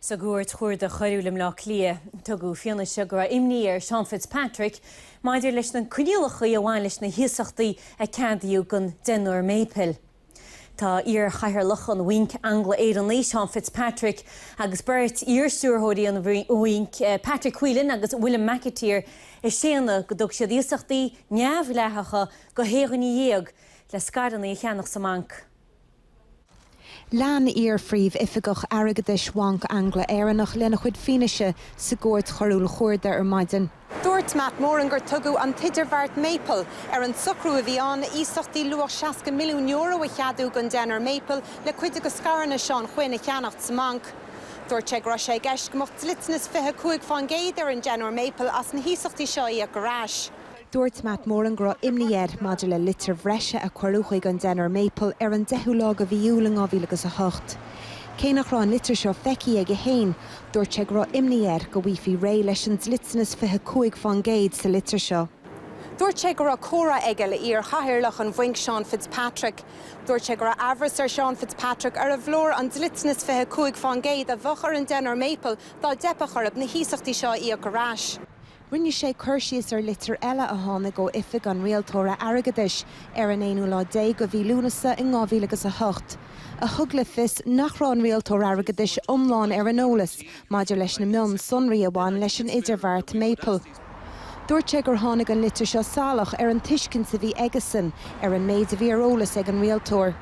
Sa gCúirt Chuarda Choiriúil i mBleá Cliath, tugadh fianaise go raibh imní ar Sheán Fitzpatrick maidir leis na coinníollacha a bhain leis na hiasachtaí a ceadaíodh don deichniúr Maple. Tá iarchathaoirleach an Bhainc Angla-Éireannaigh, Seán Fitzpatrick, agus beirt iarstiúrthóirí an Bhainc, Patrick Whelan agus William McAteer, ag séanadh go dtug siad iasachtaí neamhdhleathacha go shé dhuine dhéag le scaireanna a cheannach sa mbanc. Lean iar-phríomhoifigeach airgeadais Bhanc Angla-Éireannach lena chuid fianaise sa gCúirt Choiriúil Chuarda ar maidin. Dúirt Matt Moran gur tugadh an t-idirbheart Maple ar an socrú a bhí ann iasachtaí luach €60 milliún a cheadú don deichniúr Maple le cuid de scaireanna Seán Quinn a cheannacht sa mbanc. Dúirt sé go raibh sé i gceist go mbeadh dliteanas 25 fán gcéad ar an deichniúr Maple as na hiasachtaí seo a íoc ar ais. Dúirt Matt Moran go raibh imní air maidir le litir bhreise a cuireadh chuig an deichniúr Maple ar an 10ú lá de mhí Iúil in 2008. Cé nach raibh an litir seo feicthe aige féin, dúirt sé go raibh imní air go bhfaighfí réidh leis an dliteanas 25 fán gcéad sa litir seo. Dúirt sé go raibh comhrá aige le iar chathaoirleach an bhainc Seán Fitzpatrick. Dúirt sé go raibh amhras ar Sheán Fitzpatrick arbh leor an dliteanas 25 fán gcéad a bheadh ar an deichniúr Maple dá dteipfeadh orthu na hiasachtaí seo a íoc ar ais. Rinne sé cur síos ar litir eile a tháinig ó Oifig an Rialtóra Airgeadais ar an aonú lá déag de mhí Lúnasa in dhá mhíle agus a hocht, a thug le fios nach raibh an Rialtóir Airgeadais iomlán ar an eolas maidir leis na mionsonraí a bhain leis an idirbheart Maple. Dúirt sé gur tháinig an litir seo salach ar an tuiscint a bhí aigesan ar an méid a bhí ar eolas ag an Rialtóir.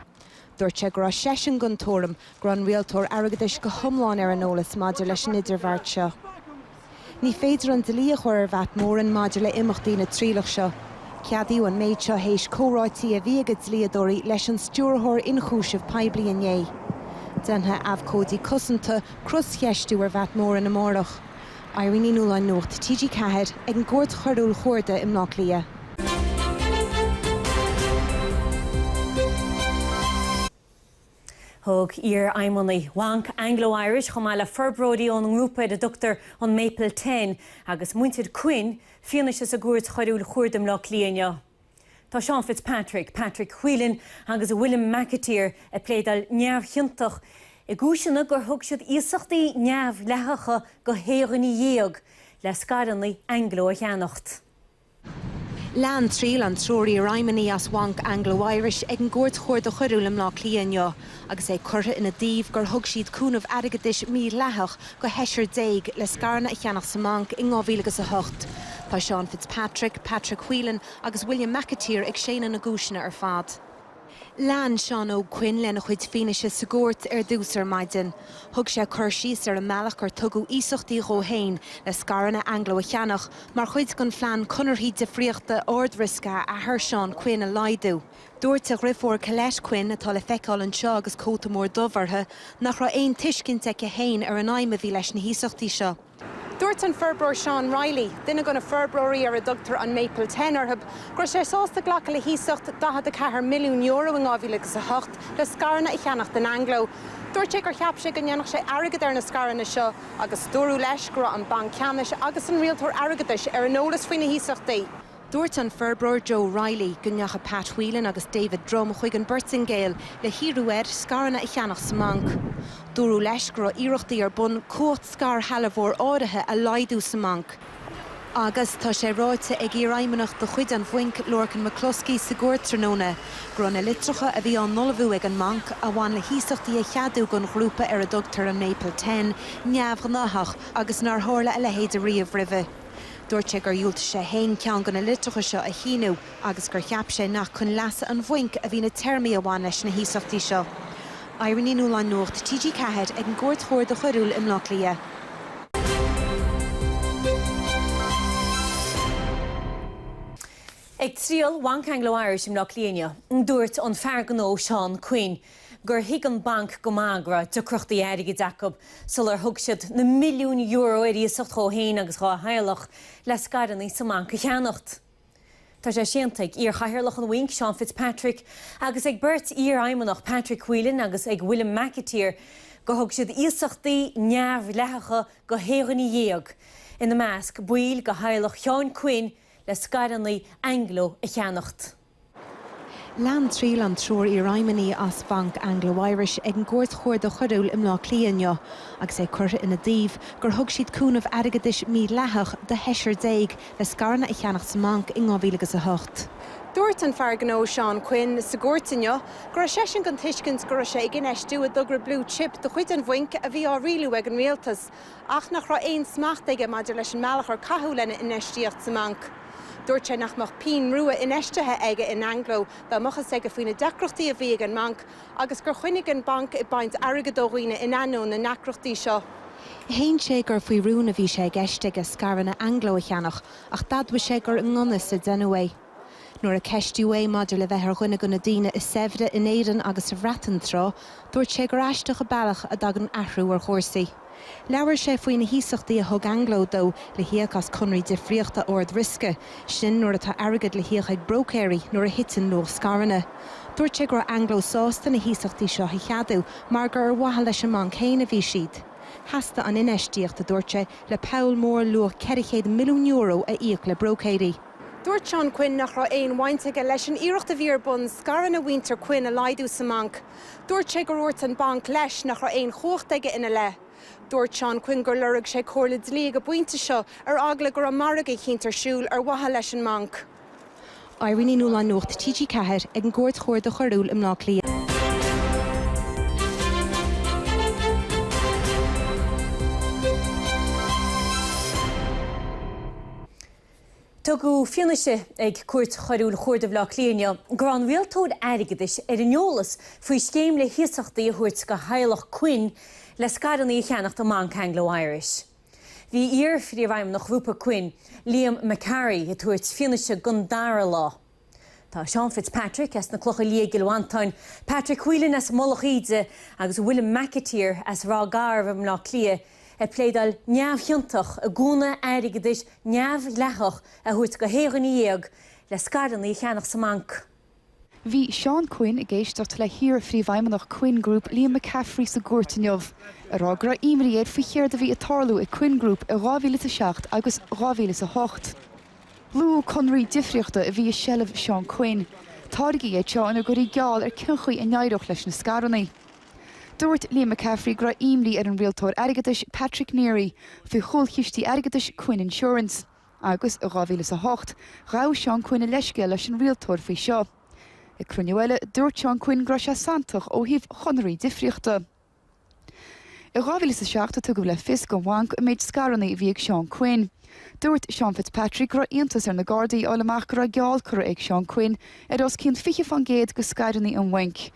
Dúirt sé go raibh seisean den tuairim go raibh an Rialtóir Airgeadais go hiomlán ar an eolas maidir leis an idirbheart seo. Ní féidir an dlí a chur ar Mhatt Moran maidir le imeachtaí na trialach seo. Ceadaíodh an méid seo théis comhráití a bhí ag a dlíodóirí leis an Stiúrthóir Ionchúiseamh Poiblí inné. Déanfaidh abhcóidí cosanta croscheistiú ar Mhatt Moran amárach. Irene Ní Nualláin Nuacht TG4 ag an gCúirt Choiriúil Chuarda i mBleá Cliath. Thug iarfheidhmeannaigh Bhanc Anglo Irish, chomh maith le forbróirí ón ngrúpa ar a dtugtar an Maple Ten, agus muintir Quinn, fianaise sa gCúirt Choiriúil Chuarda i mBleá Cliath inniu. Tá Seán Fitzpatrick, Patrick Whelan agus William McAteer ag pléadáil neamhchiontach i gcúiseanna gur thug siad iasachtaí neamhdhleathacha go shé dhuine dhéag le scaireanna Anglo a cheannacht. Lean triail an triúr iarfheidhmeannaigh as Bhanc Anglo Irish ag an gCúirt Chuarda Choiriúil i mBleá Cliath inniu agus é curtha ina dtaobh gur thug siad cúnamh airgeadais mídhleathach go sheisear déag le scaireanna a cheannach sa mbanc in 2008. Tá Seán Fitzpatrick, Patrick Whelan agus William McAteer ag séanadh na gcúiseanna ar fad. Lean Seán Óg Quinn lena chuid fianaise sa gcúirt ar dtús ar maidin. Thug sé cur síos ar an mbealach ar tugadh iasachtaí dhó fhéin le scaireanna Anglo a cheannach mar chuid den phlean conarthaí difríochta ardriosca a athair Seán Quinn a laghdú. Dúirt a dhriofúr Colette Quinn, atá le feiceáil anseo agus cóta mór dubh uirthi, nach raibh aon tuiscint aici fhéin ar an aidhm a bhí leis na hiasachtaí seo. Dúirt an forbróir Seán Reilly, duine de na forbróirí ar a dtugtar an Maple Ten orthub, go raibh sé sásta glacadh le hiasacht €44 milliún i 2008 le scaireanna a cheannacht in Anglo. Dúirt sé gur cheap sé go ndéanfadh sé airgead ar na scaireanna seo agus dúradh leis go raibh an Banc Ceannais agus an Rialtóir Airgeadais ar an eolas faoi na hiasachtaí. Dúirt an forbróir Joe Reilly go ndeachaigh Pat Whelan agus David Drumm chuig an bPortaingéil le hiarraidh air scaireanna a cheannach sa mbanc. Dúradh leis go raibh iarrachtaí ar bun cumhacht scairshealbhóir áirithe a laghdú sa mbanc. Agus tá sé ráite ag iarfheidhmeannach de chuid an bhainc, Lorcan McCluskey, sa gcúirt tráthnóna go raibh na litreacha a bhí á n-ullmhú ag an mbanc, a bhain le hiasachtaí a cheadú don ghrúpa ar a dtugtar an Maple Ten, neamhghnáthach agus nár tharla a leithéid ariamh roimhe. Dúirt sé gur dhiúltaigh sé fhéin ceann de na litreacha seo a shíniú agus gur cheap sé nach chun leasa an bhainc a bhí na téarmaí a bhain leis na hiasachtaí seo. Irene Ní Nualláin Nuacht TG4 ag an gCúirt Chuarda Choiriúil i mBleá Cliath. Ag triail Bhanc Anglo Irish i mBleá Cliath inniu, dúirt an fear gnó Seán Quinn, gur thuig an banc go maith go raibh deacrachtaí airgid acub sular thug siad na milliúin euro ar iasacht dhó féin agus dhá theaghlach le scaireanna sa mbanc a cheannacht. Tá sé séanta ag iarchathaoirleach an bhainc, Seán Fitzpatrick, agus ag beirt iarfheidhmeannach, Patrick Whelan agus ag William McAteer, gur thug siad iasachtaí neamhdhleathacha go shé dhuine dhéag, ina measc baill de theaghlach Sheáin Quinn, le scaireanna Anglo a cheannacht. Lean triail an triúr iarfheidhmeannaí as Banc Anglo Irish ag an gCúirt Chuarda Choiriúil i mBleá Cliath inniu agus é curtha ina dtaobh gur thug siad cúnamh airgeadais mídhleathach do sheisear déag le scaireanna a cheannacht sa mbanc i 2008. Dúirt an fear gnó Seán Quinn sa gcúirt inniu go raibh seisean den tuiscint go raibh sé ag infheistiú i dtogra Blue Chip de chuid an bhainc a bhí á rialú ag an rialtas ach nach raibh aon smacht aige maidir leis an mbealach ar caitheadh lena infheistíocht sa mbanc. Dúirt sé nach mbeadh pínn rua infheistithe aige in Anglo dá mbeadh fhios aige faoi na deacrachtaí a bhí ag an mbanc agus gur choinnigh an banc ag baint airgid ó dhaoine in ainneoin na ndeacrachtaí seo. Shéan sé gur faoi rún a bhí sé i gceist aige scaireanna Anglo a cheannach ach d'admhaigh sé gur i ngan fhios a déanadh é. Nuair a ceistíodh é maidir le bheith ar dhuine de na daoine is saibhre in Éirinn agus sa Bhreatain tráth, dúirt sé gur aisteach an bealach a dtagann athrú ar chúrsaí. Labhair sé faoi na hiasachtaí a thug Anglo dó le híoc as conraí difríochta ard-riosca, sin nuair atá airgead le híoc ag bróicéirí nuair a thiteann luach scaireanna. Dúirt sé go raibh Anglo sásta na hiasachtaí seo a cheadú mar gur ar mhaithe leis an mbanc féin a bhí siad. Theastaigh an infheistíocht, a dúirt sé, le poll mór luach €400 milliún a íoc le bróicéirí. Dúirt Seán Quinn nach raibh aon bhaint aige leis an iarracht a bhí ar bun scaireanna mhuintir Quinn a laghdú sa mbanc. Dúirt sé gur úirt an banc leis nach raibh aon chumhacht aige ina leith. Dúirt Seán Quinn gur lorg sé comhairle dlí ag an bpointe seo ar eagla go raibh margadh eicínt ar siúl ar mhaithe leis an mbanc. Irene Ní Nualláin Nuacht TG4 ag an gCúirt Chuarda Choiriúil i mBleá Cliath. Tugadh fianaise ag Cúirt Choiriúil Chuarda Bhaile Átha Cliath inniu go raibh an rialtóir airgeadais ar an eolas faoi scéim le hiasachtaí a thabhairt do theaghlach Quinn le scaireanna a cheannacht i mBanc Anglo Irish. Bhí iar-phríomhfheidhmeannach Ghrúpa Quinn, Liam McCaffrey, ag tabhairt fianaise don dara lá. Tá Seán Fitzpatrick as na Clocha Liath i gCill Mhantáin, Patrick Whelan as Mullach Íde agus William McAteer as Ráth Garbh i mBleá Cliath ag pléadáil neamhchiontach i gcúnna airgeadais neamhdhleathach a thabhairt do shé dhuine dhéag le scaireanna a cheannach sa mbanc. Bhí Seán Quinn ag éisteacht le hiar-phríomhfheidhmeannach Quinn Group Liam McCaffrey sa gcúirt inniu ag rá go raibh imní air faoi chéard a bhí ag tarlú i Quinn Group i 2007 agus 2008. Luadh conraí difríochta a bhí i seilbh Seán Quinn, táirgí iad seo ina gcuirtí geall ar cén chaoi a n-éireodh leis na scarannaí. Dúirt Liam McCaffrey go raibh imní ar an rialtóir airgeadais Patrick Neary faoi chúlchistí airgeadais Quinn Insurance agus, i 2008, ghabh Seán Quinn a leithscéal leis an rialtóir faoi seo. Ag cruinniú eile, dúirt Seán Quinn go raibh sé santach ó thaobh chonraí difríochta. I 2007 tugadh le fios don bhanc an méid scarannaí a bhí ag Seán Quinn. Dúirt Seán Fitzpatrick go raibh iontas ar na Gardaí a fháil amach go raibh geall curtha ag Seán Quinn ar os cionn 20 fán gcéad de scaireanna an bhainc.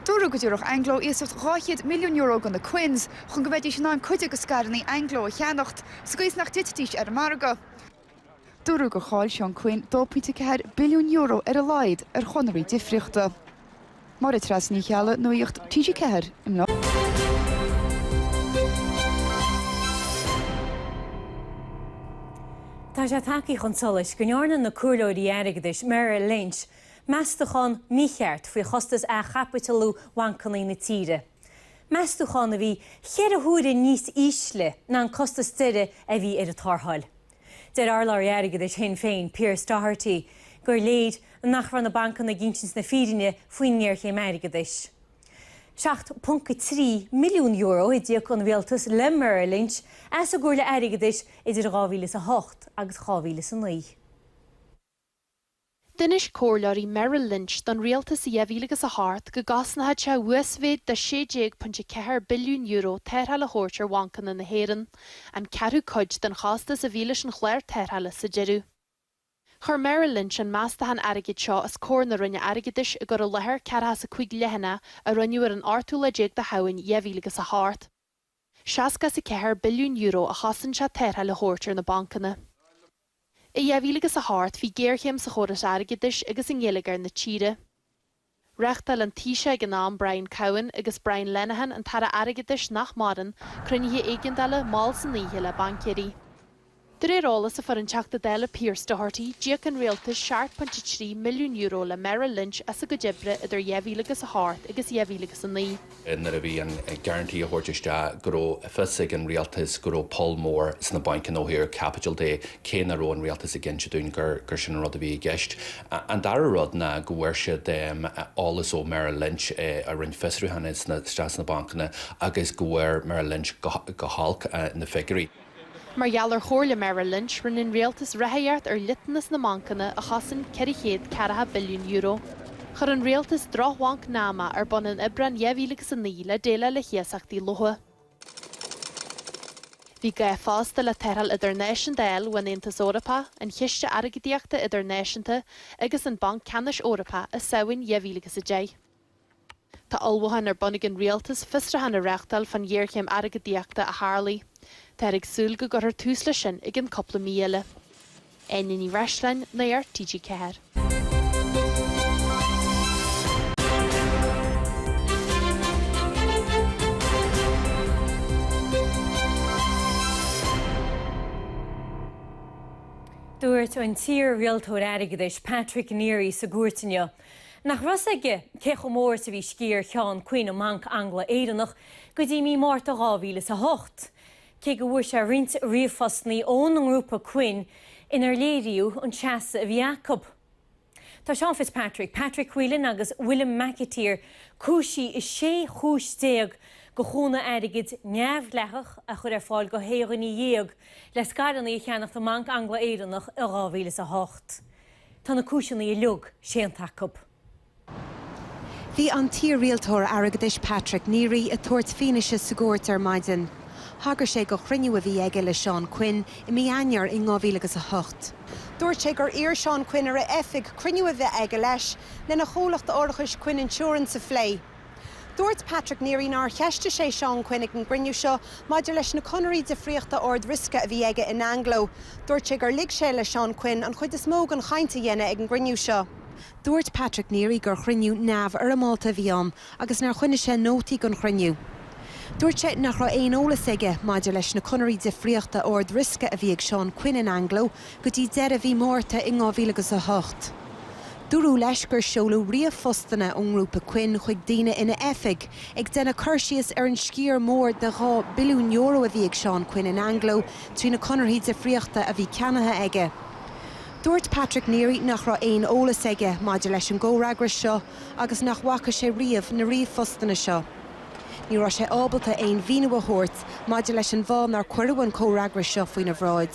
Dúradh go dtabharfadh Anglo iasacht €200 milliún do na Quinns chun go mbeidís in ann cuid de scaireanna Anglo a cheannacht sa gcaoi is nach dtitfidís ar an margadh. Dúradh gur chaill Seán Quinn €2.4 billiún ar a laghad ar chonraí difríochta. Máire Treasa Ní Cheallaigh, Nuacht TG4, i mBleá. Tá sé tagthaí chun solais go ndearna na comhairleoirí airgeadais Merrill Lynch meastachán mícheart faoi chostais athchaipitialiú bhancanna na tíre. meastachán a bhí ceithre huaire níos ísle ná an costas deiridh a bhí ar an tarrtháil. Deir urlabhraí airgeadais Shinn Féin, Pearse Doherty, gur léir nach raibh na bancanna ag insint na fírinne faoin ngéarchéim airgeadais. €7.3 milliún a d'íoc an rialtas le Merrill Lynch as a gcomhairle airgeadais idir 2008 agus 2009. D'inis comhairleoirí Merrill Lynch don rialtas i 2000 agus a hocht go gcosnódh sé uasmhéid de €16.4 billiún tarrtháil a thabhairt ar bhancanna na hÉireann, an ceathrú cuid den chostas a bhí leis an chlár tarrthála sa deireadh. Chuir Merrill Lynch an meastachán airgid seo os comhair na Roinne Airgeadais i gcur i láthair ceathracha is a cúig leathanaigh a roinneadh ar an ochtú lá déag de Shamhain 2000 agus a hocht. Seasca is a ceathair billiún euro a chosain sé tarrtháil a thabhairt ar na bancanna. I 2000 agus a hocht bhí géarchéim sa chóras airgeadais agus i ngeilleagar na tíre. Reachtáil an Taoiseach ag an am, Brian Cowen, agus Brian Lenihan, an tAire Airgeadais nach maireann, cruinnithe éigeandála, mall san oíche, le baincéirí. De réir eolas a fuair an Teachta Dála Pearse Doherty, d'íoc an Rialtas €7.3 milliún le Merrill Lynch as a gcuid oibre idir 2000 agus 8 agus 2000 agus 9. nuair a bhí an guarantee á thabhairt isteach, go raibh fios ag an Rialtas go raibh poll mór sna bancanna ó thaobh caipitil de, cé nach raibh an Rialtas ag insint dúinn gur gur sin an rud a bhí i gceist. An dara rud ná go bhfuair siad eolas ó Merrill Lynch a rinne fiosrúcháin isteach sna bancanna agus go bhfuair Merrill Lynch go holc na figiúirí. Mar gheall ar chomhairle Merrill Lynch, rinne an rialtas ráthaíocht ar dhliteanas na mbancanna, a chosain ceithre chéad ceathracha billiún euro. Chuir an rialtas drochbhanc NAMA ar bun in Aibreán dhá mhíle agus a naoi le déileáil le hiasachtaí lofa. Bhí gá fosta le tarrtháil idirnáisiúnta a fháil ón Aontas Eorpach, an Chiste Airgeadaíochta Idirnáisiúnta agus an Banc Ceannais Eorpach i Samhain dhá mhíle agus a deich. Tá ullmhúcháin ar bun ag an Rialtas fiosrúchán a reachtáil fán ghéarchéim airgeadaíochta a tharlaigh. Táthar ag súil go gcuirfear tús leis sin i gceann cúpla mí eile. Áine Ní Bhreisleáin, Nuacht, TG4. Dúirt an t-iar-rialtóir airgeadais Patrick Neary sa gcúirt inniu Nach raibh 's aige cé chomh mór is a bhí sciar Sheáin Quinn i mBanc Angla-Éireannach go dtí mí Márta 2008, cé go bhfuair sé roinnt ríomhphostannaí ón ngrúpa Quinn inar léiríodh an seasamh a bhí acu. Tá Seán Fitzpatrick, Patrick Whelan agus William McAteer cúisithe i sé chúis déag de chúnamh airgid neamhdhleathach a chur ar fáil do shé dhuine dhéag le scaireanna a cheannacht i mBanc Angla-Éireannach i 2008. Tá na cúiseanna uilig séanta acu. Bhí an t-iar-rialtóir airgeadais Patrick Neary ag tabhairt fianaise sa gcúirt ar maidin. Thagair sé do chruinniú a bhí aige le Seán Quinn i mí Eanáir i 2000 agus 08. Dúirt sé gur iarr Seán Quinn ar a oifig cruinniú a bheith aige leis lena chomhlacht árachais Quinn Insurance a phlé. Dúirt Patrick Neary nár cheistigh sé Seán Quinn ag an gcruinniú seo maidir leis na conarthaí difríochta ard-riosca a bhí aige in Anglo. Dúirt sé gur lig sé le Seán Quinn an chuid is mó den chaint a dhéanamh ag an gcruinniú seo. Dúirt Patrick Neary gur chruinniú neamhfhoirmeálta a bhí ann agus nár choinnigh sé nótaí den chruinniú. Dúirt sé nach raibh aon eolas aige maidir leis na conarthaí difríochta ard-riosca a bhí ag Seán Quinn in Anglo go dtí deireadh mhí Márta i 2008. Dúradh leis gur seoladh ríomhphostanna ón ngrúpa Quinn chuig daoine ina oifig ag déanamh cur síos ar an sciar mór de €2 billiún a bhí ag Seán Quinn in Anglo trí na conarthaí difríochta a bhí ceannaithe aige. Dúirt Patrick Neary nach raibh aon eolas aige maidir leis an gcomhfhreagras seo agus nach bhfaca sé riamh na ríomhphostanna seo. Ní raibh sé ábalta aon mhíniú a thabhairt maidir leis an bhfáth nár cuireadh an comhfhreagras seo faoina bhráid.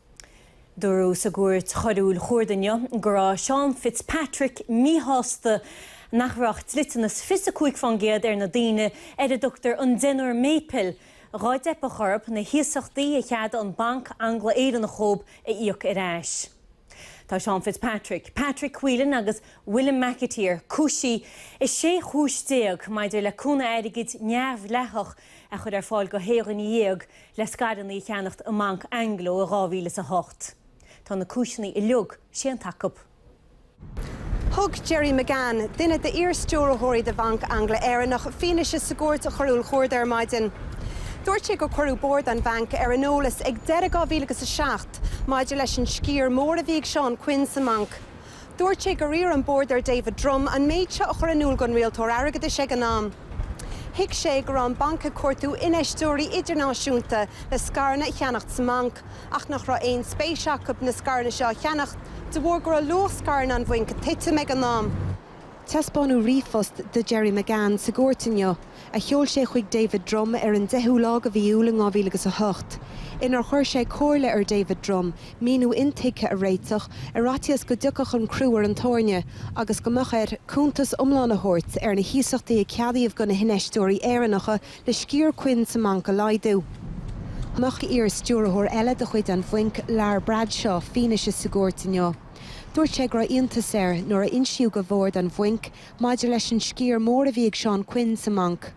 Dúradh sa gCúirt Choiriúil Chuarda inniu go raibh Seán Fitzpatrick míshásta nach raibh dliteanas fiú is 25% ar na daoine ar a dtugtar an 'deichniúr maple', dhá dteipeadh orthu na hiasachtaí a cheadaigh an Banc Angla-Éireannach dhóib a íoc ar ais. Tá Seán Fitzpatrick, Patrick Whelan agus William McAteer cúisithe i 16 chúis maidir le cúnamh airgid neamhdhleathach a chur ar fáil do shé dhuine dhéag le scaireanna a cheannacht i mBanc Anglo i 2008. Tá na cúiseanna uilig séanta acu. Thug Gerry McGann, duine d'iar-stiúrthóirí de Bhanc Angla-Éireannach, fianaise sa gCúirt Choiriúil Chuarda ar maidin. Dúirt sé gur cuireadh bord an bhainc ar an eolas ag deireadh 2007 maidir leis an sciar mór a bhí ag Seán Quinn sa mbanc. Dúirt sé gur iarr an Bord ar David Drumm an méid seo a chur in iúl don Rialtóir Airgeadais ag an am. Thuig sé go raibh an banc ag cuartú infheisteoirí idirnáisiúnta le scaireanna a cheannacht sa mbanc, ach nach raibh aon spéis acu na scaireanna seo a cheannacht de bharr go raibh luach scaireanna an bhainc ag titim ag an am. Taispeánadh ríomhphost do Gerry McGann sa gcúirt inniu, a sheol sé chuig David Drumm ar an 10ú lá de mhí Iúil i 2008, inar chuir sé comhairle ar David Drumm míniú intuigthe a réiteach, ar fhaitíos go dtiocfadh an crú ar an tairne agus go mbeadh air cuntas iomlán a thabhairt ar na hiasachtaí a ceadaíodh do na hinfheisteoirí Éireannacha le sciar Quinn sa mbanc a laghdú. Nocht iar-stiúrthóir eile de chuid an Bhainc, Lar Bradshaw, fianaise sa gcúirt inniu. Dúirt sé go raibh iontas air nuair a insíodh go Bhord an Bhainc maidir leis an sciar mór a bhí ag Seán Quinn sa mbanc.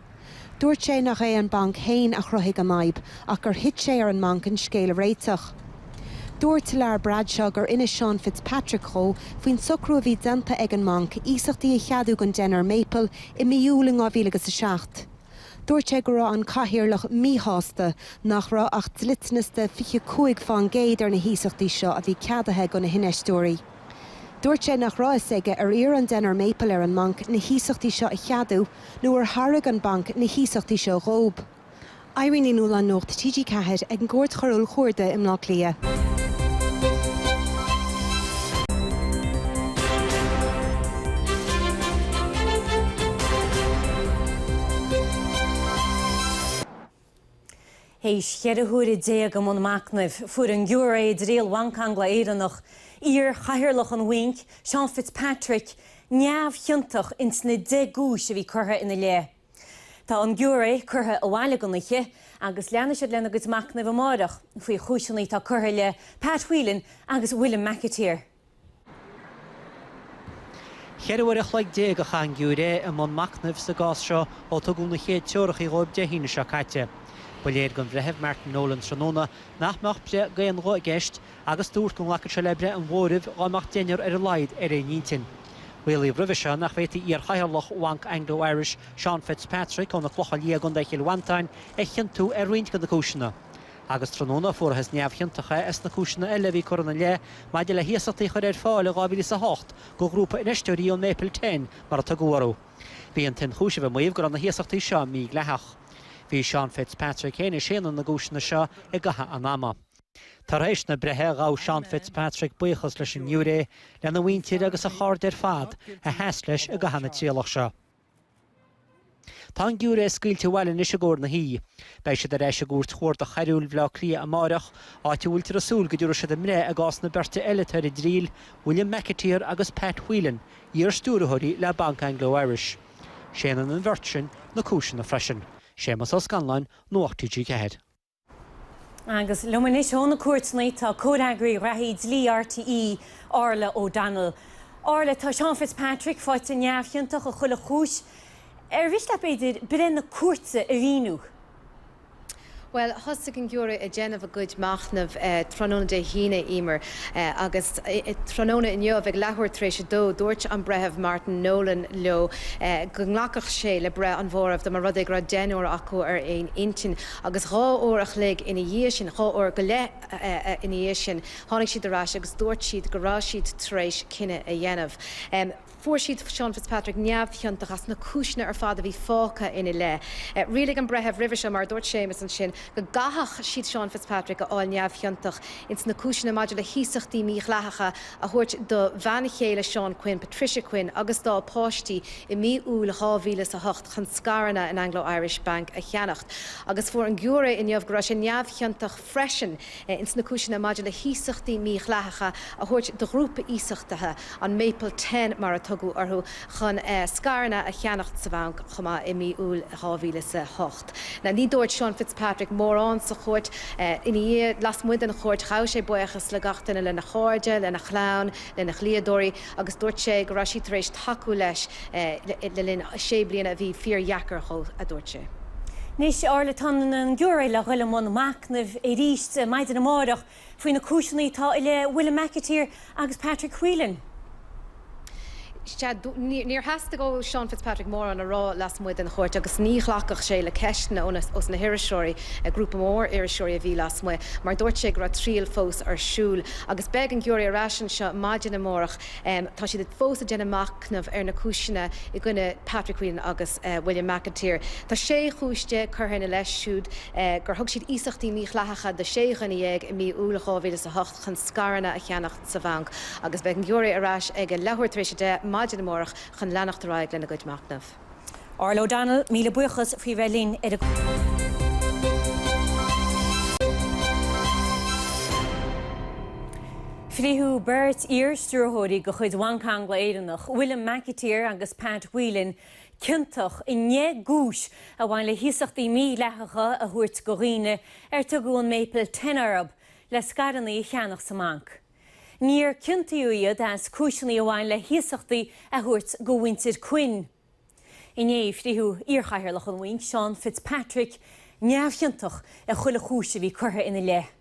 Dúirt sé nach é an banc fhéin a chruthaigh an fhadhb ach gur thit sé ar an mbanc an scéal a réiteach. Dúirt Lar Bradshaw gur inis Seán Fitzpatrick dhó faoin socrú a bhí déanta ag an mbanc iasachtaí a cheadú don deichniúr Maple i mí Iúil in 2000 agus 7. Dúirt sé go raibh an cathaoirleach míshásta nach raibh ach dliteanas de 25 faoin gcéad ar na hiasachtaí seo a bhí ceadaithe go na hinfheisteoirí. Dúirt sé nach raibh fhios aige ar iarr an deichniúr Maple ar an mbanc na hiasachtaí seo a cheadú nó ar thairg an banc na hiasachtaí seo dhóib. Irene Ní Nualláin, Nuacht TG4, ag an gCúirt Choiriúil Chuarda i mBleá Cliath. Théis cheithre huaire déag i mbun machnaimh, fuair an giúiré i dtriail Bhanc Angla-Éireannach iar-chathaoirleach an Bhainc, Seán Fitzpatrick, neamhchiontach ins na deich gcúis a bhí curtha ina leith. Tá an giúiré curtha abhaile don oíche agus leanfaidh siad lena gcuid machnaimh amáireach faoi chúiseanna atá curtha i leith Pat Whelan agus William McAteer. Cheithre uair a chloig déag a chaith an giúiré i mbun machnaimh sa gcás seo ó tugadh na chéad treorachaí dhóibh Dé hAoine seo caite. Ba léir don Bhreitheamh Martin Nolan tráthnóna nach mbeadh breith d'aon ghuth i gceist agus dúirt go nglacfadh sé le breith an mhóraimh dhá mbeadh deichniúr ar a laghad ar aon intinn. Rialaíodh roimhe seo nach bhféadfaí iarchathaoirleach Bhanc Anglo Irish, Seán Fitzpatrick ó na Clocha Liatha i gContae Chill Mhantáin, a chiontú ar roinnt de na cúiseanna. Agus tráthnóna fuarathas neamhchiontach é ins na cúiseanna eile a bhí curtha ina leith maidir le hiasachtaí a chur ar fáil in 2008 go ghrúpa infheisteoirí ón Maple Ten, mar a tugadh orthu. Bhí an t-ionchúiseamh ag maíomh go raibh na hiasachtaí seo mídhleathach. Bhí Seán Fitzpatrick féin ag séanadh na gcúiseanna seo i gcaitheamh an ama. Tar éis na breithe, ghabh Seán Fitzpatrick buíochas leis an ngiúiré, lena mhuintir agus a chairde ar fad a sheas leis i gcaitheamh na trialach seo. Tá an giúiré scaoilte abhaile anois i gcomhair na hoíche. Beidh siad ar ais i gCúirt Chuarda Choiriúil Bhaile Átha Cliath amárach, áit a bhfuiltear ag súil go dtabharfaidh siad a mbreith i gcás na beirte eile atá ar a dtriail, William McAteer agus Pat Whelan, iar-stiúrthóirí le Banc Anglo Irish. Séanann an bheirt sin na cúiseanna freisin. Séamus Ó Scanláin, Nuacht TG4. Agus liom anois ó na cúirteanna tá Comhfhreagraí Gnóthaí Dlí RTÉ, Orla O'Donnell. Orla, tá Seán Fitzpatrick faighte neamhchiontach i chuile chúis. Ar mhiste leat, b'fhéidir, breith na cúirte a mhíniú? Bhuel, thosaigh an giúiré ag déanamh a gcuid machnaimh tráthnóna Dé hAoine, Eimear, agus tráthnóna inniu ag leathuair tar éis a dó dúirt an Breitheamh Martin Nolan leo go nglacfadh sé le breith an mhóraimh dá mba rud é go raibh deichniúr acu ar aon intinn. Agus dhá uair a chloig ina dhiaidh sin, dhá uair go leith ina dhiaidh sin, tháinig siad ar ais agus dúirt siad go raibh siad tar éis cinneadh a dhéanamh. Fuair siad Seán Fitzpatrick neamhchiontach as na cúiseanna ar fad a bhí fágtha ina leith. Rialaigh an breitheamh roimhe seo, mar a dúirt Séamus ansin, go gcaithfeadh siad Seán Fitzpatrick a fháil neamhchiontach ins na cúiseanna maidir le hiasachtaí mídhleathacha a thabhairt do bhean chéile Seán Quinn, Patricia Quinn, agus dá páistí i mí Iúil 2008 chun scaireanna in Anglo Irish Bank a cheannacht agus fuair an giúiré inniu go raibh sé neamhchiontach freisin ins na cúiseanna maidir le hiasachtaí mídhleathacha a thabhairt do ghrúpa iasachtaithe, an Maple Ten mar a tugadh orthu, chun scaireanna a cheannacht sa bhanc chomh maith i mí Iúil 2008. Now ní dúirt Sean Fitzpatrick mórán sa chúirt. Ina dhiaidh, lasmuigh den chúirt, ghabh sé buíochas le gach duine, lena chairde, lena chlann, lena dhlíodóirí, agus dúirt sé go raibh siad tar éis tacú leis le linn sé bliana a bhí fíordheacair dhó, a dúirt sé. Anois, ar ndóigh tá an giúiré le dhul i mbun machnaimh arís maidin amárach faoi na cúiseanna atá i leith William McAteer agus Patrick Whelan. Sea, níor theastaigh ó Seán Fitzpatrick mórán a rá lasmuigh den chúirt agus ní ghlacfadh sé le ceisteanna ó na hiriseoirí, grúpa mór iriseoirí a bhí lasmuigh, mar dúirt sé go raibh triail fós ar siúl. Agus beidh an giúiré ar ais anseo maidin amárach, tá siad fós ag déanamh machnamh ar na cúiseanna i gcoinne Patrick Whelan agus William McAteer. Tá sé chúis déag curtha ina leith siúd, gur thug siad iasachtaí mídhleathacha do sé dhuine dhéag i mí Iúil dhá mhíle is a hocht chun scaireanna a cheannacht sa bhanc, agus beidh an giúiré ar ais ag a leathuair tar éis a deich maidin amárach chun leanacht ar aghaidh lena gcuid machnamh. Orla O'Donnell, míle buíochas faoi bheith linn ar an. Fritheadh beirt iar-stiúrthóirí de chuid Bhanc Angla Éireannach, William McAteer agus Pat Whelan, ciontach i ndeich gcúis a bhain le hiasachtaí mídhleathacha a thabhairt go dhaoine ar tugadh an Maple Ten orthu le scaireanna a cheannach sa mbanc. Níor ciontaíodh iad as cúiseanna a bhain le hiasachtaí a thabhairt go mhuintir Quinn. Inné, fritheadh iarchathaoirleach an bhainc, Seán Fitzpatrick, neamhchiontach ar chuile chúis a bhí curtha ina leith.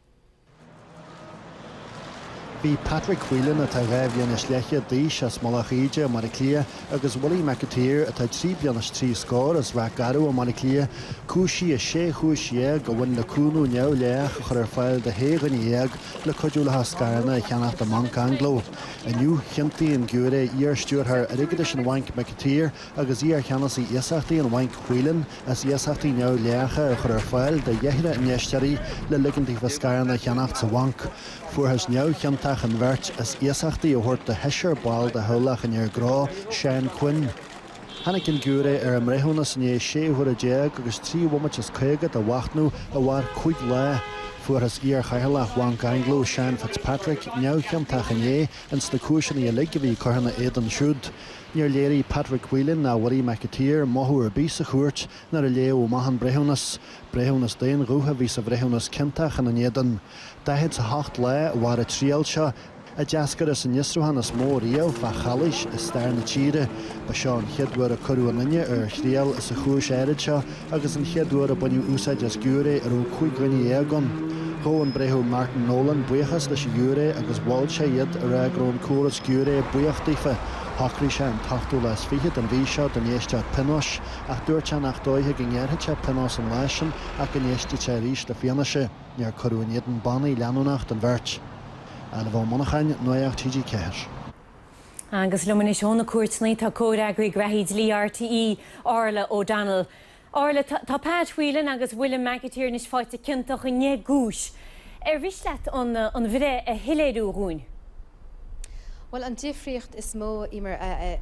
Bhí Patrick Whelan, atá dhá bhliain is leathchéad d'aois, as Mullach Íde i mBaile Átha Cliath, agus Willie McAteer, atá trí bliana is trí scór, as Ráth Garbh i mBaile Átha Cliath, cúisithe i sé chúis dhéag a bhain le cúnamh neamhdhleathach a chur ar fáil do shé dhuine dhéag le cuidiú leofa scaireanna a cheannach i mBanc Anglo. Inniu, chiontaigh an giúiré, iar-stiúrthóir airgeadais an bhainc McAteer agus iar-cheannasaí iasachtaí an bhainc Whelan, as iasachtaí neamhdhleathacha a chur ar fáil do dheichniúr infheisteoirí le ligint daofa scaireanna a cheannacht sa bhanc. Fuarthas neamhchiontach an bheirt as iasachtaí a thabhairt do sheisear ball de theaghlach an fhir ghnó, Seán Quinn. Tháinig an giúiré ar a mbreithiúnas i ndiaidh sé huaire déag agus trí bhomaite is caoga de mhachnamh a mhair cúig lá. Fuarthas iarchathaoirleach Bhanc Anglo, Sean Fitzpatrick, neamhchiontach inné ins na cúiseanna uilig a bhí curtha ina éadan siúd. Níor léirigh Patrick Whelan ná Willie McAteer mothú ar bith sa chúirt nuair a léadh amach an breithiúnas. Breithiúnas d'aon ghuth a bhí sa bhreithiúnas ciontach ina n-éadan. 48 lá a mhair an triail seo, a d'eascair as an fhiosrúchán is mó riamh fá chalaois i stair na tíre. Ba seo an chéad uair a cuireadh aon duine ar a thriail sa chúis áirid seo agus an chéad uair a baineadh úsáid as giúiré a raibh cúig dhuine dhéag ann. Ghabh an Breitheamh Martin Nolan buíochas leis an ghiúiré agus mhol sé iad, ag rá go raibh an córas giúiré buíoch daofa. Shocraigh sé an t-ochtú lá is fiche den mhí seo don éisteacht pionóis, ach dúirt sé nach dóiche go ngearrfadh sé pionós an lá sin ach go n-éistfeadh sé arís le fianaise. Níor cuireadh in éadan bannaí leanúnach den bheirt. Ailbhe Ó Monacháin, Nuacht TG4. Agus liom anois ó na cúirteanna tá comhfhreagraí gnóthaí dlí RTÉ, Orla O'Donnell. Orla, tá Pat Whelan agus William McAteer anois faighte ciontach i ndeich gcúis. Ar mhiste leat an bhreith a shoiléiriú dhúinn? Bhuel, an difríocht is mó mar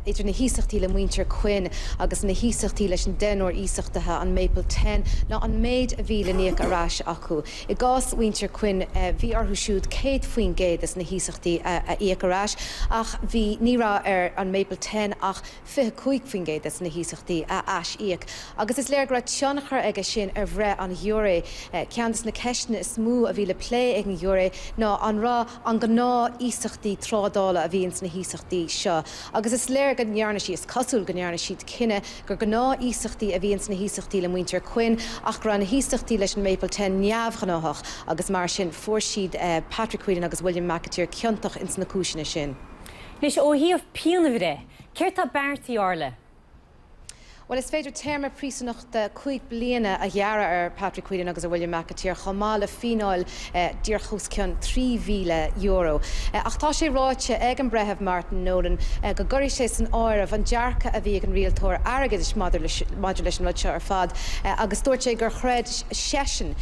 idir na hiasachtaí le muintir Quinn agus na hiasachtaí leis an deichniúr iasachtaithe, an Maple Ten, ná an méid a bhí le n-íoc ar ais acu. I gcás mhuintir Quinn, bhí orthu siúd 100% de na hiasachtaí a íoc ar ais, ach bhí, ní raibh ar an Maple Ten ach 25% de na hiasachtaí a ais-íoc. Agus is léir go raibh tionchar aige sin ar bhreith an ghiúiré. Ceann de na ceisteanna is mó a bhí le plé ag an ghiúiré ná an raibh, an gnáth iasachtaí trádála a bhí ins na hiasachtaí seo agus is léir go ndearna sí, is cosúil go ndearna siad cinneadh gur gnáth iasachtaí a bhí ins na hiasachtaí le muintir Quinn ach go raibh na hiasachtaí leis an Maple Ten neamhghnáthach agus mar sin fuair siad Patrick Whelan agus William McAteer ciontach ins na cúiseanna sin. Anois ó thaobh pianbhreith, céard tá beartaithe, Orla? Bhuel, is féidir téarma príosúnachta cúig bliana a ghearradh ar Patrick Whelan agus ar William McAteer chomh maith le fíneáil díreach os cionn €3,000. Ach tá sé ráite ag an Breitheamh Martin Nolan go gcuirfidh sé san áireamh an dearcadh a bhí ag an rialtóir airgeadais maidir leis an rud seo ar fad agus dúirt sé gur chreid seisean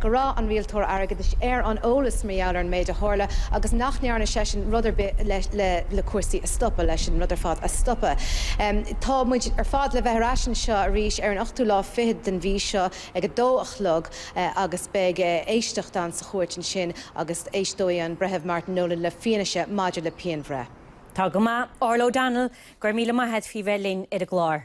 go raibh an Rialtóir Airgeadais ar an eolas mar gheall ar an méid a tharla agus nach ndearna seisean rud ar bith le cúrsaí a stopadh, leis an rud ar fad a stopadh. Tá muid ar fad le bheith ar ais anseo arís ar an ochtú lá fiche den mhí seo ag a dó a chlog agus beidh éisteacht ann sa chúirt ansin agus éisteoidh an Breitheamh Martin Nolan le fianaise maidir le pianbhreith. Tá go maith. Orla O'Donnell, go raibh míle maith agat faoi bheith linn ar an gclár.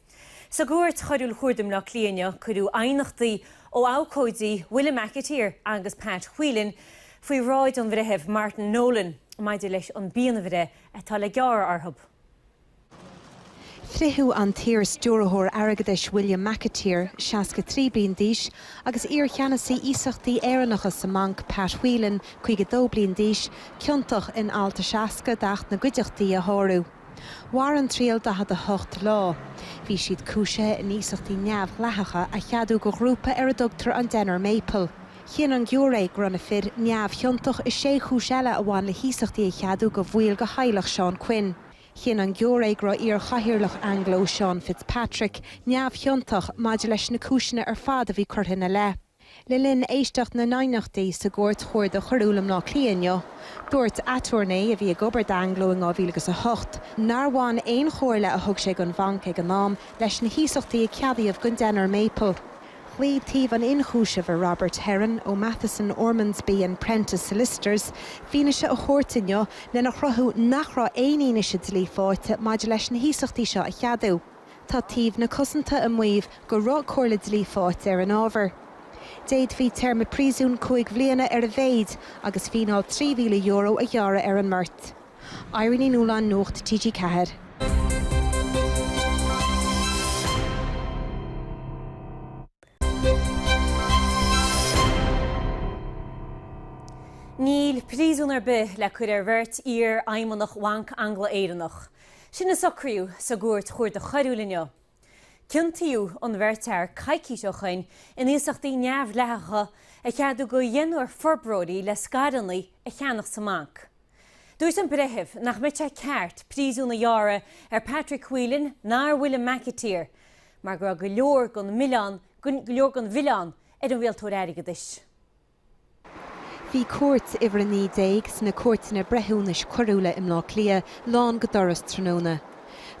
Sa gCúirt Choiriúil Chuarda i mBleá Cliath inniu cuireadh aighneachtaí ó abhcóidí William McAteer agus Pat Whelan faoi bhráid an Bhreithimh Martin Nolan maidir leis an bpianbhreith atá le gearradh orthu. Fritheadh an t-iar-Stiúrthóir Airgeadais William McAteer, 63 bliain d'aois, agus iar-Cheannasaí Iasachtaí Éireannacha sa mbanc Pat Whelan, 52 bliain d'aois, ciontach in Alt 60 d'Acht na gCuideachtaí a shárú. Mhair an triail 48 lá. Bhí siad cúisithe in iasachtaí neamhdhleathacha a cheadú do ghrúpa ar a dtugtar an Deichniúr Maple. Chinn an giúiré go raibh na fir neamhchiontach i sé chúis eile a bhain le hiasachtaí a cheadú do bhaill de theaghlach Seán Quinn. Chinn an giúiré go raibh iarChathaoirleach Anglo, Seán Fitzpatrick, neamhchiontach maidir leis na cúiseanna ar fad a bhí curtha ina leith. Le linn éisteacht na n-aighneachtaí sa gCúirt Chuarda Choiriúil i mBleá Cliath inniu, dúirt aturnae a bhí ag obair d'Anglo in 2008 nár bhain aon chomhairle a thug sé don bhanc ag an am leis na hiasachtaí a ceadaíodh don Deichniúr Maple. Ghlaoigh taobh an ionchúisimh ar Robert Heron ó Matheson, Ormsby and Prentice Solicitors fianaise a thabhairt inniu lena chruthú nach raibh aon fhianaise dlí faighte maidir leis na hiasachtaí seo a cheadú. Tá taobh na cosanta ag maíomh go raibh comhairle dlí faighte ar an ábhar. D'fhéadfaí téarma príosúin cúig bhliana ar a mhéid agus fíneáil €3,000 a ghearradh ar an mbeirt. Irene Ní Nualláin Nuacht TG4. Níl príosún ar bith le cur ar bheirt iar-fheidhmeannach Bhanc Angla-Éireannach. Sin a socraíodh sa gCúirt Chuarda Choiriúil inniu. Ciontaíodh an bheirt fhear coicís ó shin in iasachtaí neamhdhleathacha a cheadú do dheichniúr forbróirí le scaireanna a cheannach sa mbanc. Dúirt an breitheamh nach mbeadh sé ceart príosún a ghearradh ar Patrick Whelan ná ar William McAteer mar go raibh go leor den mhilleán, go leor den mhilleán ar an rialtóir airgeadais. Bhí Cúirt Uimhir 19 sna Cúirteanna Breithiúnais Coiriúla i mBleá Cliath lán go doras tráthnóna.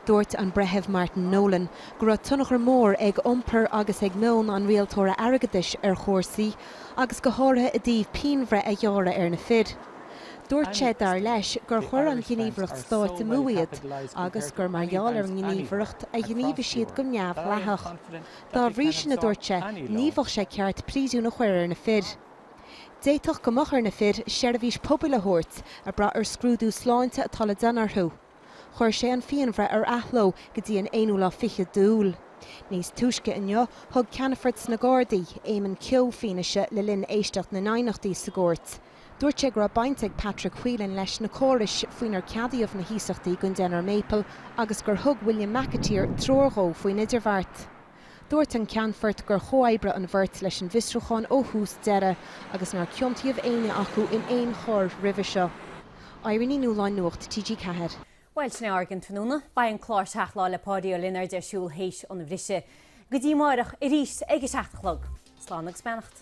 Dúirt an Breitheamh Martin Nolan go raibh tionchar mór ag iompar agus ag meon an Rialtóra Airgeadais ar chúrsaí, agus go háirithe i dtaobh pianbhreith a ghearradh ar na fir. Dúirt sé, dar leis, gur chuir an ghníomhaireacht stáit amú iad agus gur mar gheall ar an ngníomhaireacht a ghníomhaigh siad go neamhdhleathach. Dá bhrí sin, a dúirt sé, ní bheadh sé ceart príosún a chur ar na fir. D'fhéadfadh go mbeadh ar na fir seirbhís pobail a thabhairt, ag brath ar scrúdú sláinte atá le déanamh orthu. Chuir sé an phianbhreith ar athló go dtí an aonú lá fichead d'Iúil. Níos túisce inniu, thug ceannfort sna Gardaí, Éamon Keogh, fianaise le linn éisteacht na n-aighneachtaí sa gcúirt. Dúirt sé go raibh baint ag Patrick Whelan leis na córais faoinar ceadaíodh na hiasachtaí don Deichniúr Maple agus gur thug William McAteer treoir dhó faoin idirbheart. Dúirt an Ceannfort gur chomhoibrigh an bheirt leis an bhfiosrúchán ó thús deireadh agus nár ciontaíodh éinne acu in aon choir roimhe seo. Irene Ní Nualláin Nuacht TG4. Bhuel, sin é ár gcion tráthnóna. Beidh an clár Seacht Lá le Páidí Ó Lionáird ar siúl théis an bhrisidh. Go dtí amáireach arís ag a seacht a chlog! Slán agus beannacht.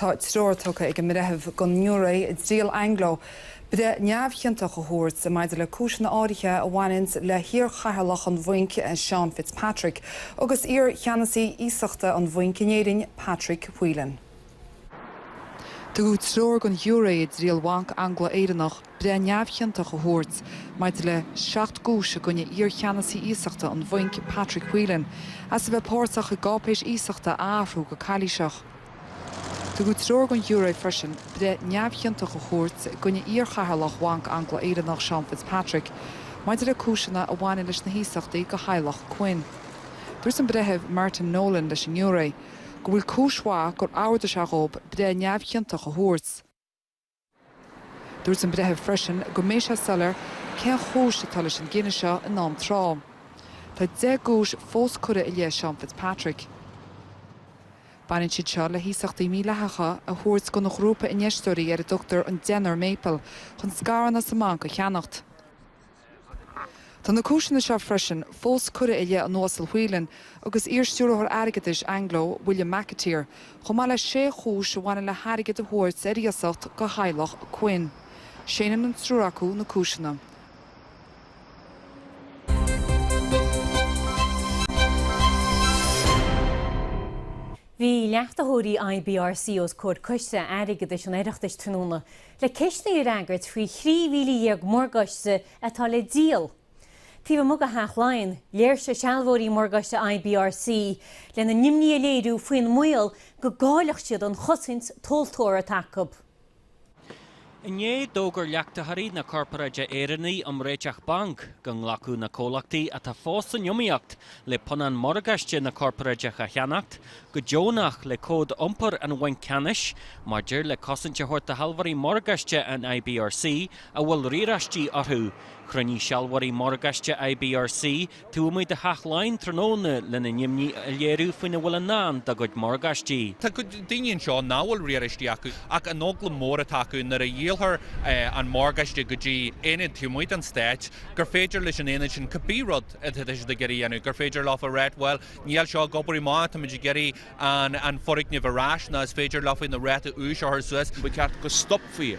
Tá treoir tugtha ag an mBreitheamh don ngiúiré i dtriail Anglo breith neamhchiontach a thabhairt maidir le cúiseanna áirithe a bhaineanns le hiarchathaoirleach an bhainc, Seán Fitzpatrick, agus iarcheannasaí iasachta an bhainc in Éirinn, Patrick Whelan. Tugadh treoir don ghiúiré i dtriail Bhanc Angla-Éireannach breith neamhchiontach a thabhairt maidir le seacht gcúis i gcoinne iarcheannasaí iasachta an bhainc Patrick Whelan as a bheith páirteach i gcáipéis iasachta a athrú go calaoiseach. Tugadh treoir don ghiúiré freisin breith neamhchiontach a thabhairt i gcoinne iarchathaoirleach Bhanc Angla-Éireannach Seán Fitzpatrick maidir le cúiseanna a bhaineann leis na hiasachtaí go theaghlach Quinn. Dúirt an Breitheamh Martin Nolan leis an ngiúiré. go bhfuil cúis mhaith gur ordaigh sé dhób breith neamhchiontach a thabhairt. Dúirt an breitheamh freisin go mbeidh sé soiléir cén chúis atá leis an gcinneadh seo in am tráth. Tá deich gcúis fós curtha i leith Seán Fitzpatrick. Baineann siad seo le hiasachtaí mídhleathacha a thabhairt don ghrúpa infheisteoirí ar a dtugtar an Deichniúr Maple chun scaireanna sa mbanc a cheannacht. Tá na cúiseanna seo freisin fós curtha i leith an Uasail Whelan agus iar-Stiúrthóir Airgeadais Anglo, William McAteer, chomh maith le sé chúis a bhaineann le hairgead a thabhairt ar iasacht go theaghlach Quinn. Séanann an triúr acu na cúiseanna. Bhí leachtaitheoirí IBRC os comhair coiste airgeadais an Oireachtais tráthnóna. le ceisteanna a fhreagairt faoi thrí mhíle dhéag morgáiste atá le díol. Taobh amuigh de Theach Laighean, léirsigh sealbhóirí morgáiste IBRC lena n-imní a léiriú faoin mbaol go gcaillfeadh siad an chosaint tomhaltóra atá acu. Inné, d'fhógair leachtaitheoirí na Corparáide Éireannaí um Réiteach Bainc go nglacfadh na comhlachtaí atá fós san iomaíocht le punann morgáiste na Corparáide a cheannacht go deonach le Cód Iompair an Bhainc Ceannais maidir le cosaint a thabhairt do shealbhóirí morgáiste an IBRC a bhfuil riaráistí orthu. Chruinnigh sealbhóirí morgáiste IBRC taobh amuigh de Theach Laighean tráthnóna lena n-imní a léiriú faoina bhfuil i ndán dá gcuid morgáistí. Tá daoine anseo nach bhfuil riaráistí acu ach an eagla mór atá acu nuair a dhíolfar an morgáiste go dtí aonad taobh amuigh den stáit gur féidir leis an aonad sin cibé rud atá siad ag iarraidh a dhéanamh, gur féidir leo a rá bhuel, Níl seo ag obair go maith, táimid ag iarraidh an foirgneamh ar ais nó is féidir leofa an ráta úis a chur suas. Ba cheart go stopfaí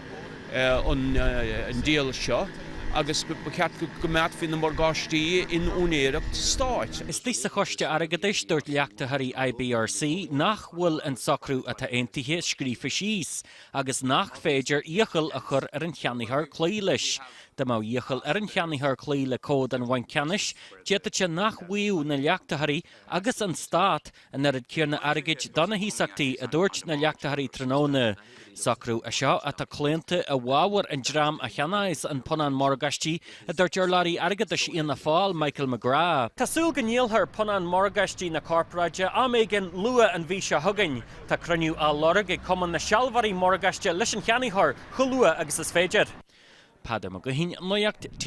an díol seo agus ba cheart go gcoimeádfaí na morgáistí in úinéireacht stáit. Istigh sa Choiste Airgeadais, dúirt leachtaitheoirí IBRC nach bhfuil an socrú atá aontaithe scríofa síos agus nach féidir iachall a chur ar an cheannaitheoir cloí leis. Dá mbeadh iachall ar an cheannaitheoir cloí le cód an bhainc ceannais, d'fhéadfadh sé nach bhfaigheadh na leachtaitheoirí agus an Stát an oiread céanna airgid do na hiasachtaí, a dúirt na leachtaitheoirí tráthnóna. Socrú é seo atá claonta i bhfabhar an dream a cheannaíos an punann morgáistí a dúirt urlabhraí airgeadais Fhianna Fáil, Michael McGrath. Tá súil go ndíolfar punann morgáistí na corparáide am éigin luath an mhí seo chugainn. Tá cruinniú á lorg ag Cumann na Sealbhóirí Morgáiste leis an cheannaitheoir chomh luath agus is féidir. Peadar Mac Gaoithín, Nuacht RTÉ.